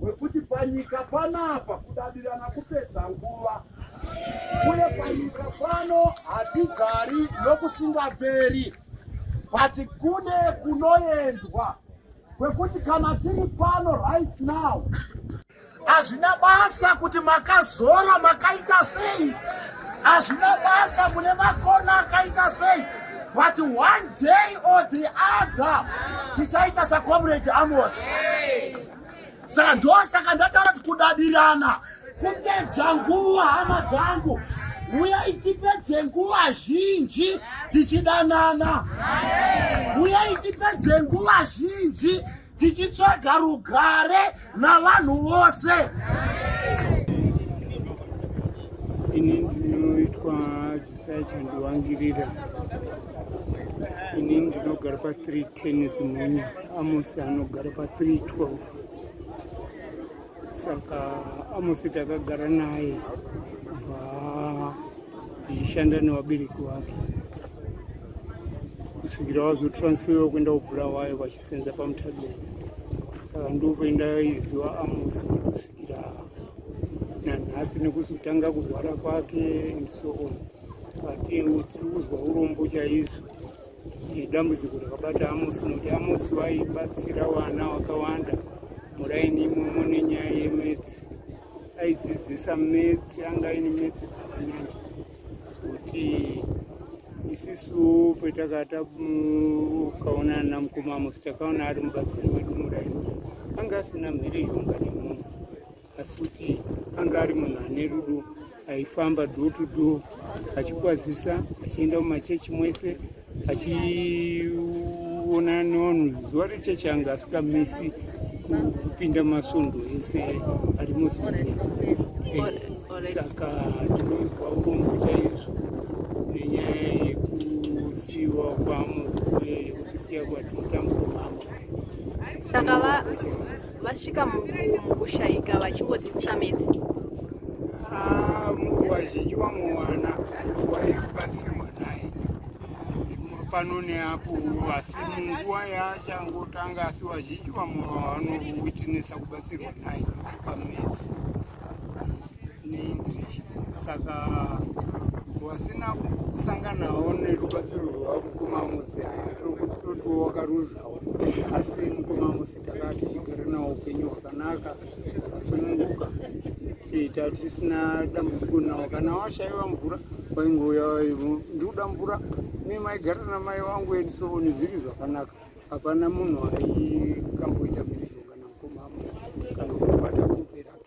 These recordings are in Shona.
wekuti panyika panapa kudadirana kupedza nguva uye panyika pano hatigari nokusingaperi but kune kunoendwa kwekuti kana tiri pano right now hazvina basa kuti makazora makaita sei Hazvina basa mune makona akaita sei but one day or the other tichaita sacomrade Amos. Saka ndosaka ndataura kuti kudadirana kupedza nguva hama dzangu uyai tipedze nguva zhinji tichidanana uyai tipedze nguva zhinji tichitsvaga rugare navanhu vose ini ndinoitwa jisai chandiwangirira ini ndinogara pa 310 zimunya amosi anogara pa 312 saka amosi takagara naye kubva tichishanda nevabereki vake kusvikira vazotransferiwa kuenda kubulawayo senza pamutable saka ndopo indaiziva amosi kusvikira nanhasi nekuzotanga kurwara kwake and so on saka tiri kuzwa urombo chaizvo dambudziko rakabata amosi nokuti amosi vaibatsira vana vakawanda muraini imomo nenyaya yemetsi aidzidzisa metsi anga aine metsi dzakanyanya kuti isisu petakata ukaona ana mukoma musi takaona ari mubatsiri wedu murai anga asina mhiri yomba nemunhu asi kuti anga ari munhu ane rudo aifamba do to do achikwazisa achienda mumachechi mwese achiona nono zuva rechechi anga asikamisi kupinda masvondo ese ari muzvibhedhlera saka tinonzwa urombo chaizvo nenyaya yekusiiwa kwamukwe yekutisiya kwatinotambuka mamusi saka vasvika mukushaika vachingodzidzisa metsi ah, vazhinji vamwe vana vaikubatsirwa naye pano neapo asi munguva yaachangotanga asi vazhinji vamwe vanowitinisa kubatsirwa naye pamesi neenglish saka vasina kusanganawo nerubatsiro rwavo mukoma mose tokuti totiwo wakaruzawo asi mukoma mose Takaa tichigara nawo upenyu hwakanaka kusununguka kuita tisina dambudziko nawo kana washaiwa mvura wainge uya waivo ndikuda mvura ne maigara namai wangu and so on zviri zvakanaka hapana munhu aikamboita mhirizhonga namukoma amusi kana kubata kuperake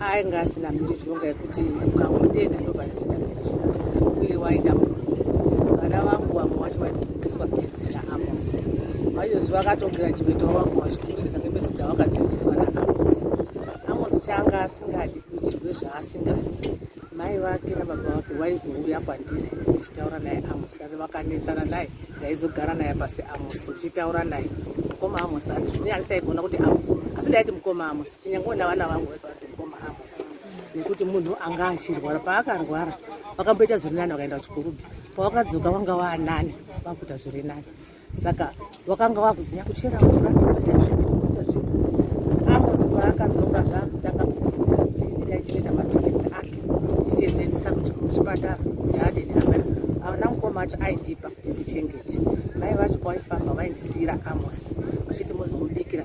ainge asina mhirizhonga yekuti ukamutenda ndovazoita mhirizhonga uye waida murusi vana vangu vamwe wacho vaitodzidziswa besti naamos vaiyozi vakatogirajuweta wavangu vachikumiridza ngebesi dzavakadzidziswa naamos amos chaanga asingadi kuitirwe zvaasingadi mai vake nababa vake vaizouya kwandiri ndichitaura naye amos kana vakanetsana naye ndaizogara naye pasi amos ndichitaura naye mukoma amos andizvine andisaigona kuti amos asi ndaiti mukoma amos Chinyangoona vana vangu vese vati mukoma Amos nekuti munhu anga achirwara paakarwara vakamboita zviri nani vakaenda kuchikorobhi pavakadzoka vanga vaanani vakuita zviri nani saka vakanga vakuziva kuchera mvura nekuita zvinhu Amos paakadzoka zvakutanga kukuidza kuti ndaichireta mapiritsi ake ndichizoendesa kuchipatara kuti adini amai ana mukoma acho aindipa kuti ndichengete mai vacho kwaifamba vaindisiyira Amos vachiti mozomubikira